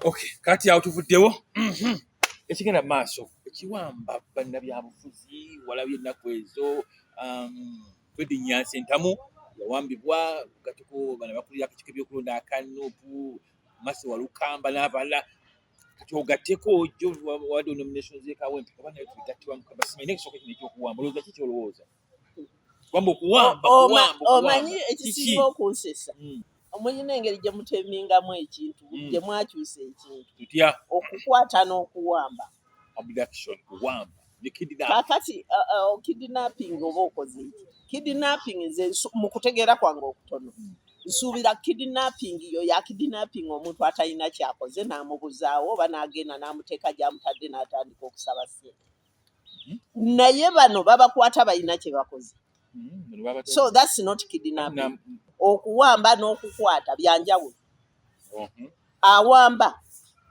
Okay, kati awo tuvuddewo mhm. ekigenda maaso ekiwamba bannabyabufuzi walabye ennaku ezo um, fredi nyansi entamu yawambibwa gatuko bana bakulira akakiiko ebyokulonda akanupu masi walukamba n'abalala kati ogatteko jo wade onominations ekawo empikabanaye tubigattibwa mukabasimaye naye kisooka kino ekyokuwamba olowooza ki kyolowooza wambo kuwamba kuwambo omanyi ekisinga okunsesa hmm. omulina engeri gye mutemingamu ekintu hmm. gye mwakyusa ekintu tutya okukwata n'okuwamba abduction kuwamba kakati uh, uh, oh, kidnapping oba okoze eki kidnapping nze mu kutegeera kwange okutono hmm. nsuubira kidnapping yo ya kidnapping omuntu atalina kyakoze n'amubuzaawo oba n'agenda n'amuteeka gy'amutadde n'atandika okusaba sente naye bano babakwata balina kye bakoze hmm, so that's not kidnapping okuwamba n'okukwata byanjawulo uh-huh. awamba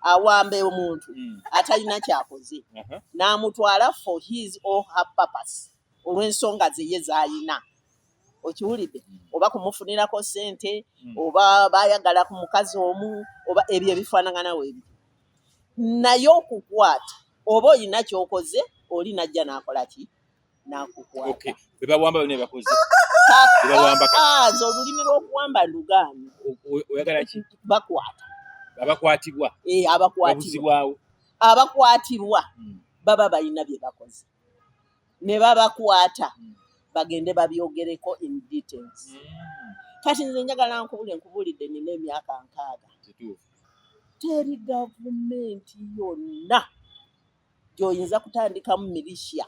awamba omuntu hmm. atalina kyakoze uh-huh. n'amutwala for his or her purpose olw'ensonga zeye z'alina okiwulidde mm. oba kumufunirako sente mm. oba bayagala ku mukazi omu oba ebyo ebifaanagana webi naye okukwata oba olina kyokoze oli najja nakola ki nakukwata okay. bebawamba bino ebakoze bebawamba ah, nze olulimi lwokuwamba ndugaanyi oyagala ki bakwata abakwatibwa eh, abakwatibwa abakwatibwa hmm. baba balina bye bakoze ne babakwata bagende babyogereko in details kati nze njagala nkubule nkubulidde nina emyaka nkaaga teri gavumenti yonna gyoyinza kutandikamu militia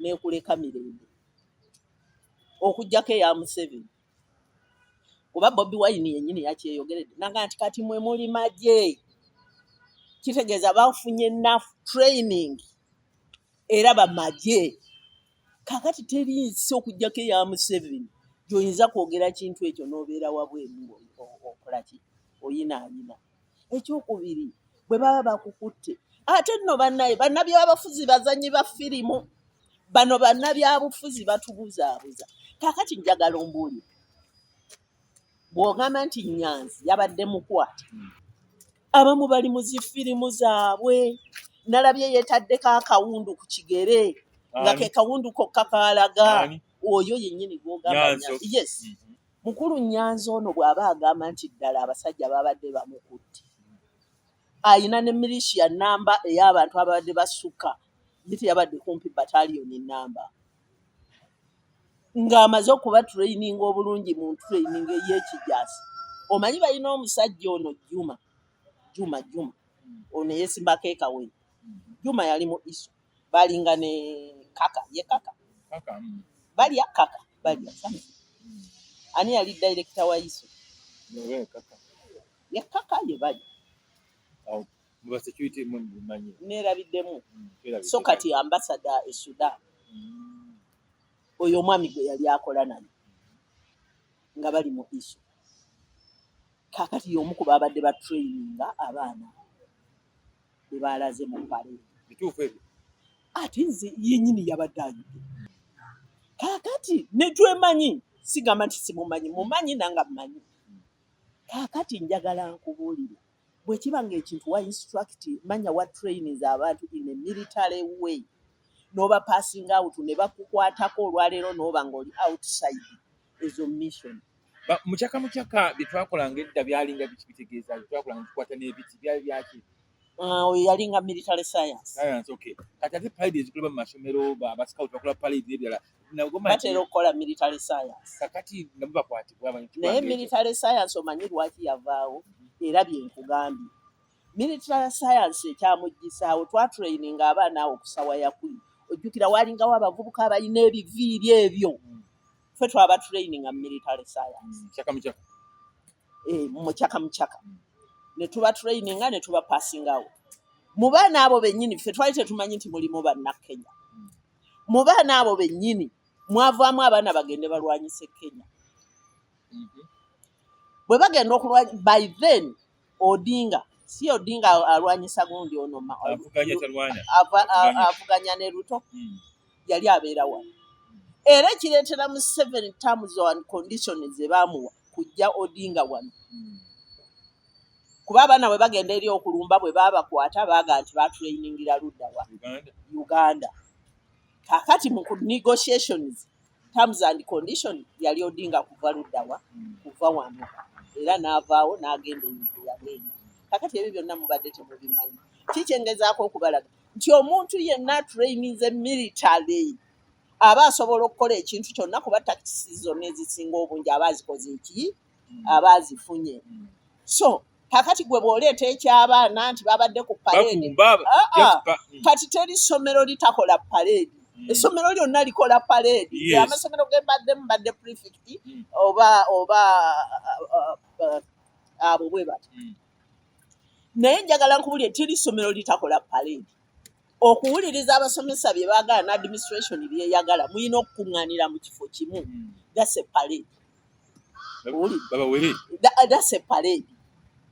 nekuleka mirembe okujjako eya museveni kuba bobi wayini yennyini yakyeyogeredde nanga nti kati mwe muli magye kitegeeza bafunye naf training era bamagye kakati teri nsi okugyako eya museveni gyoyinza kwogera kintu ekyo nobeera wabweru okolaki oyina ayina ekyokubiri bwe baba bakukutte ate nno bannaye bannabyabafuzi bazanyi ba firimu bano bannabyabufuzi batubuzaabuza kakati njagala ombuulire bw'ogamba nti nyanzi yabadde mukwate abamu bali mu zifirimu zaabwe nalabye yeetaddeko akawundu ku kigere nga ke kawundu kokka kaalaga oyo yennyini gwogamba yes mm-hmm. Mukulu Nyanzi ono bw'aba agamba nti ddala abasajja baabadde bamukutte alina ne milishiya nnamba ey'abantu ababadde basukka ye teyabadde kumpi batalioni nnamba ng'amaze okuba tureyininga obulungi mu ntureyininga ey'ekijaasi omanyi balina omusajja ono juma juma juma ono eyesimbako ekawenyi juma yali mu iso balinga ne kaka ye kaka kaka mm. balya kaka balya sana mm. ani yali director wa iso ye kaka ye kaka ye balya au mwa security mwa manyi nera bidemu mm, so kati ambassador e sudan mm. oyo mwami gwe yali akola nani nga bali mu iso kakati yomukuba abadde ba traininga abaana bwe baalaze mu pale. Bituufu ebyo. Ate nze yennyini yabadde ayidde. Kaakati ne twemanyi sigamba nti simumanyi mumanyi nanga mmanyi. Kaakati njagala nkubuulire bwe kiba ng'ekintu wa instruct manya wa trainings abantu in a military way n'oba passing out ne bakukwatako olwaleero n'oba ng'oli outside ezo mission mukyaka mukyaka byetwakolanga edda byalinga biki bitegeeza byetwakolanga tukwata n'ebiti byali byaki ah, oyo yalinga military science science okay kati ate palide ezikolebwa mu masomero basikaut bakola palide n'ebirala batera okukola military science kakati namu bakwatibwa naye military science omanyi lwaki yavaawo era byenkugambye Minisitule ya sayansi ekyamuggyisaawo twatuleyininga abaana awo ku sawa yakuli ojjukira waalingawo abavubuka abalina ebiviiri ebyo mm. fe twaba tuleyininga mu military sayansi mumucaka mucaka mm. eh, mm. netuba tuleyininga netuba pasingawo mu baana abo bennyini fe twali tetumanyi nti mulimu bannakenya mu baana abo bennyini mwavaamu abaana bagende balwanyise kenya mm-hmm. bwe bagenda okulwanya by then Odinga si Odinga alwanyisa gundi ono avuganya ne Ruto hmm. yali abeera wano era ekireetera mu seven terms and condition ze baamuwa kujja Odinga wano hmm. kuba abaana bwe bagenda eri okulumba bwe baabakwata baaga nti baatulayiningira luddawa Uganda kakati mu negotiations terms and condition yali odinga kuva luddawa kuva wano era n'avaawo n'agenda ebintu yagenda kakati ebyo byonna mubadde temubimanyi kikyengezaako okubalaga nti omuntu yenna trainize military aba asobola okukola ekintu kyonna kuba takisi zonna ezisinga obungi aba azikoze eki aba azifunye so kakati gwe bwoleeta ekyabaana nti babadde ku paleedi ah, ah. mm. kati teri ssomero litakola paleedi mm. essomero lyonna likola paleedi amasomero gembaddemu badde prefect mm. oba oba uh, abo bwe bati naye njagala nkubulire teri ssomero litakola paleedi okuwuliriza abasomesa bye baagala ne administration byeyagala mulina okukuŋŋaanira mu kifo kimu gase paleedi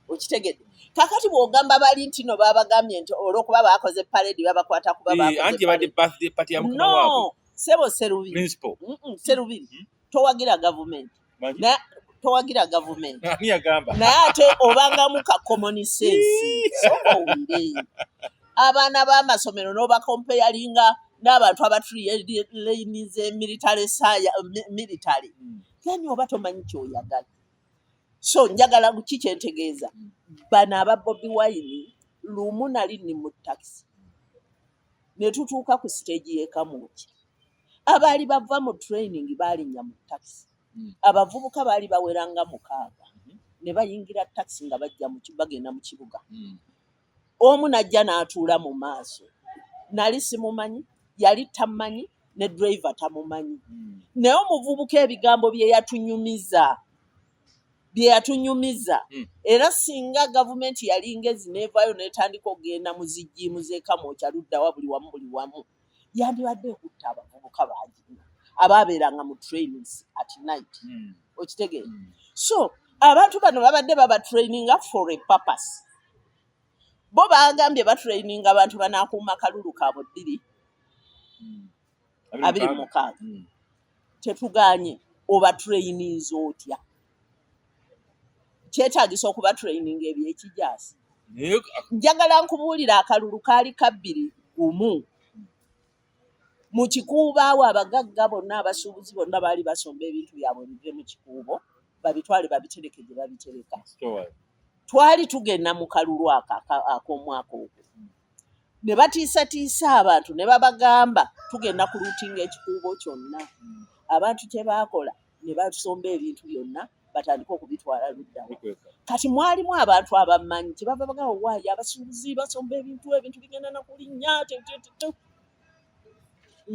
okitegedde kakati bwogamba bali nti no babagambye nti olwokuba bakoze paredi babakwata kubabaano sebo serubiri serubiri hmm? towagira gavumenti towagira gavumenti naye ate obangamu ka common sense so owulire abaana b'amasomero n'obakompeyalinga n'abantu abatrlainize military saya military hmm. yani oba tomanyi kyoyagala so njagala ki kyentegeeza hmm. bano aba bobi wine lumu nali ni mu takisi ne tutuuka ku siteegi y'ekamuuki abaali bava mu training baalinya mu takisi hmm. abavubuka baali baweranga mukaaga ne bayingira takisi nga bajja bagenda mu kibuga omu n'ajja n'atuula mu maaso nali simumanyi yali tammanyi ne driver tamumanyi hmm. naye omuvubuka ebigambo bye yatunyumiza bye yatunyumiza hmm. era singa gavumenti yali ngezi neevaayo n'etandika okugenda mu zijiimu z'ekamwokya luddawa buli wamu buli wamu yandibadde ekutta abavubuka bangi abaabeeranga mu trainings at night hmm. okitegeera hmm. so abantu bano babadde babatraininga for a purpose bo bagambye batraininga abantu banakuuma kalulu kaabo ddiri abiri mukaaga tetuganye obatraininza otya kyetagisa okuba training ebyekijaasi njagala nkubuulira akalulu kaali kabbiri gumu mu kikuubo awo abagagga bonna abasuubuzi bonna baali basomba ebintu byabwe bive mu kikuubo babitwale babitereke gye babitereka twali tugenda mu kalulu ako ak'omwaka ogwo ne batiisatiisa abantu ne babagamba tugenda ku luutinga ekikuubo kyonna abantu kye baakola ne basomba ebintu byonna batandika okubitwala luddawa kati mwalimu abantu abamanyi kye bava bagamba waayo abasuubuzi basomba ebintu ebintu bigenda na kulinnya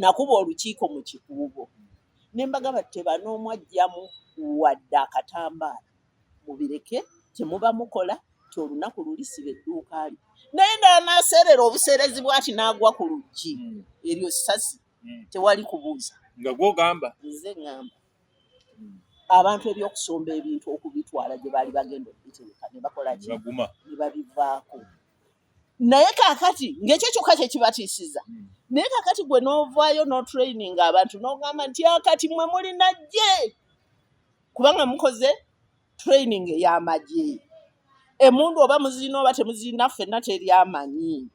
nakuba olukiiko mu kikuubo ne mbagamba tebanoomwajjamu wadde akatambaala mubireke temuba mukola ti olunaku luli siba edduuka lyo naye ndala naseerera obuseerezi bwati n'agwa ku luggi hmm. eryo sasi hmm. tewali kubuuza nga gwogamba nze ngamba hmm. abantu ebyokusomba ebintu okubitwala gye baali bagenda okubitereka ne bakola ki ne babivaako naye kakati ng'ekyo kyokka kye kibatiisiza naye kakati gwe n'ovaayo n'otraininga abantu n'ogamba nti akati mwe mulina gye kubanga mukoze training ey'amagye emundu oba muzirina oba temuzirina ffenna teri amanyi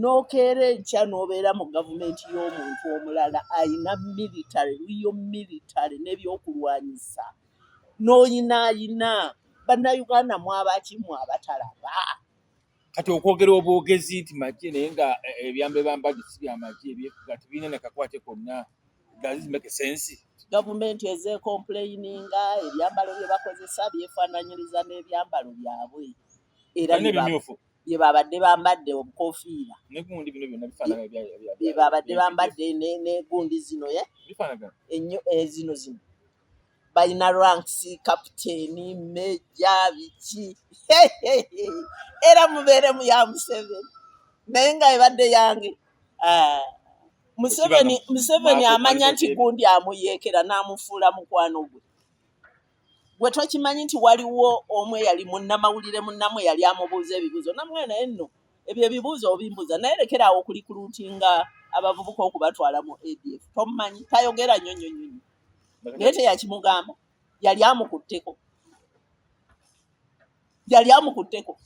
nokeera enkya n'obeera mu gavumenti y'omuntu omulala alina military riyo military n'ebyokulwanyisa n'oyinaayina bannayuganda mwabaki mwabatalaba kati okwogera obwogezi nti magye naye nga eh, ebyambe bambadde si byamagye ebyefuga tebirina nakakwate konna gazimekesensi gavumenti ezekompuleyininga ebyambalo bye bakozesa byefaananyiriza n'ebyambalo byabwe era bye babadde bambadde obukofiira bye babadde bambadde negundi zino ye eh, zino zino balina ranks kapiteeni meja biki era mubeere mu ya museveni naye nga ebadde yange ah, museveni museveni amanya nti gundi amuyeekera n'amufuula mukwano gwe gwe tokimanyi nti waliwo omu eyali munnamawulire munnamu eyali amubuuza ebibuuzo namwe naye nno ebyo ebibuuzo obimbuuza naye lekera awo kuli kuluutinga abavubuka okubatwala mu adf tomumanyi tayogera nyo nyo nyo nyo. naye teyakimugamba yali amukutteko yali amukutteko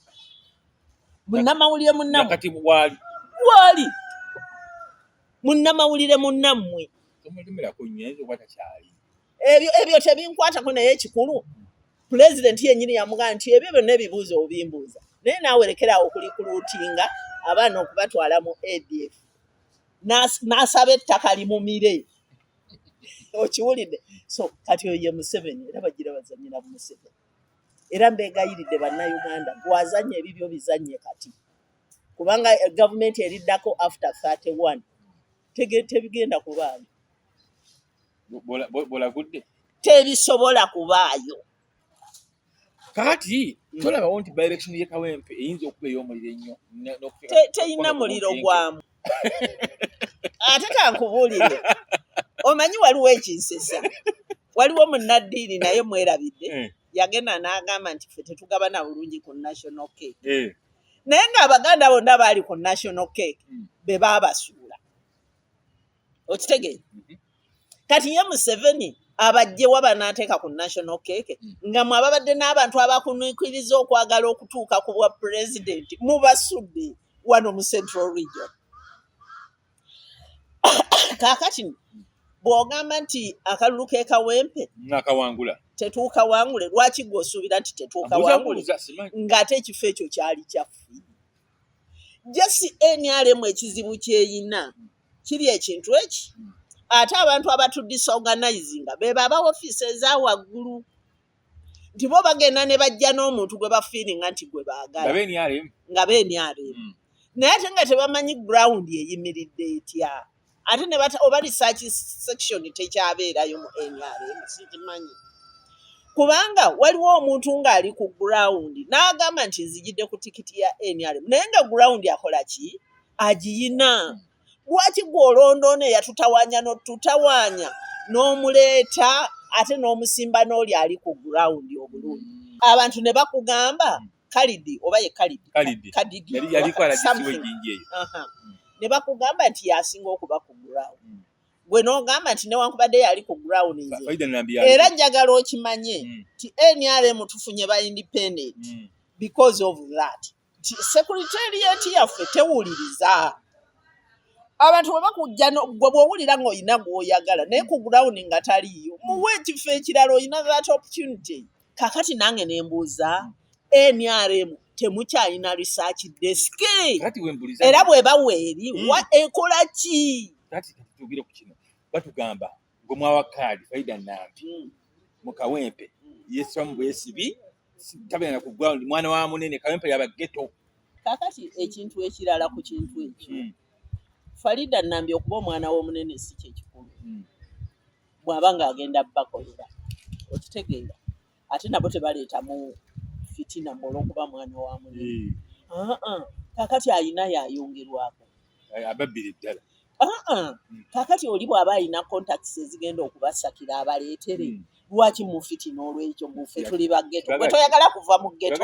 munnamawulire munnamkati waali waali munnamawulire munnammwe ebyo ebyo tebinkwatako naye ekikulu pulezidenti yenyini yamugaa nti ebyo byonna ebibuuzo obimbuuza naye naawerekerawo okulikuluutinga abaana okubatwala mu adf n'asaba ettaka limumire okiwulidde so kati oyo ye museveni era bagira bazanyira mu museveni era mbeegayiridde bannayuganda gwazanya ebibyo bizanye kati kubanga eh, gavumenti eriddako after 31 tebigenda kubaayo bwolagudde tebisobola kubaayo kakati mm. tolabawo nti direction ye kawempe eyinza okuba ey'omuliro ennyo teyina muliro gwamu ate kankubuulire omanyi waliwo ekinsesa waliwo munnaddiini naye mwerabidde eh. yagenda n'agamba nti ffe tetugabana bulungi ku national cake eh. naye ng'abaganda bonna baali ku national cake mm. be baabasuula okitegee mhm. kati ye museveni abajje waba nateeka ku national cake mm. nga mwe ababadde n'abantu abakunuikiriza okwagala okutuuka ku bwa pulezidenti mubasudde wano mu central region kakati bwogamba nti akalulu kekawempe nakawangula tetuukawangule lwaki gwe osuubira nti tetuukawangule ng'ate ekifo ekyo kyali kyaffe jesi nrm ekizibu kyeyina kiri ekintu eki ate abantu abatu disorganizinga bebo aba ofiisi eza waggulu nti bo bagenda ne bajja n'omuntu gwe bafiiringa nti gwe baagala nga be nrm hmm. naye ate nga tebamanyi ground eyimiridde etya ate ne bata oba research section tekyabeerayo mu nrm sikimanyi kubanga waliwo omuntu ng'ali ku ground n'agamba nti nzijidde ku tikiti ya nrm naye nga ground akola ki agiyina lwaki gwe olondoona eyatutawaanya notutawaanya n'omuleeta ate n'omusimba n'oli ali ku ground obulungi abantu ne bakugamba kalidi oba ye kalidi kalidi kadidi yali yali kwa la kisiwe jinji eyo ne bakugamba nti yasinga okuba ku ground mm. gwe n'ogamba nti newankubadde yali ku ground nze era njagala okimanye mm. nti nrm tufunye ba independent mm. because of that nti secretariat yaffe tewuliriza abantu bwe bakujja gwe bw'owulira ng'olina gw'oyagala naye ku ground nga taliiyo muwa ekifo ekirala olina that opportunity kakati nange nembuuza nrm temukyalina research desk era bweba weeri hmm. ekola ki tugire ku kino batugamba gwe mwawa kaadi faida nampi hmm. mu kawempe hmm. yesiramu bwesibi tabena ku ground mwana wa munene kawempe yaba ghetto kakati ekintu ekirala ku kintu ekyo farida nambi okuba omwana w'omunene si kyekikulu bwaba nga agenda bakolera okitegeera ate nabo tebaleetamu fitina mu olwokuba mwana wa muli kakati ayina yayongerwako ababbiri ddala hmm. kakati oli bwaba alina contacts ezigenda okubasakira abaleetere hmm. lwaki mufitina olwekyo mufe tuli bageto gwe toyagala kuva mu geto